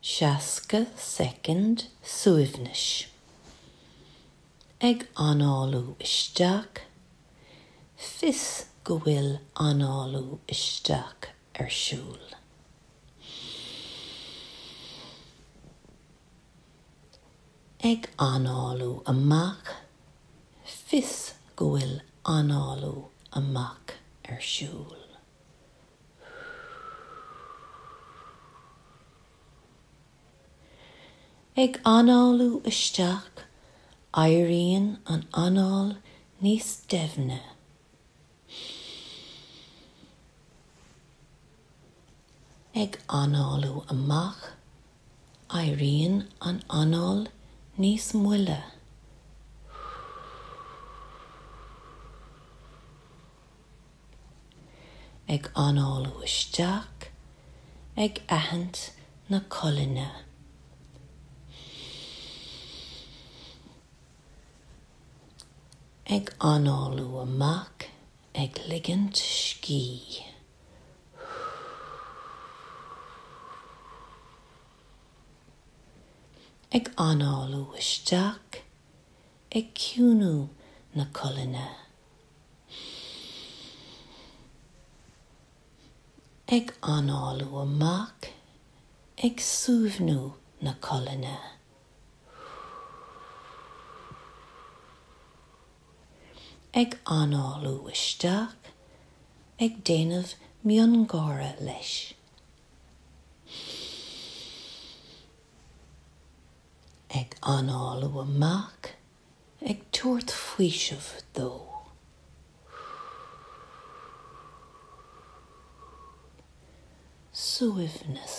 60 soicind suaimhnis. Ag análú isteach, fios go bhfuil análú isteach ar siúl. ag análú amach, fios go bhfuil análú amach ar siúl. ag análú isteach, éiríonn an anáil níos doimhne. Ag análú amach, éiríonn an anáil níos moille. Ag análú isteach, ag aithint na colainne. ag análú amach, ag ligint scíth. ag análú isteach, ag ciúnú na colainne. ag análú amach, ag suaimhniú na colainne. ag análú isteach, ag déanamh miongháire leis, ag análú amach, ag tabhairt faoiseamh dó, suaimhneas.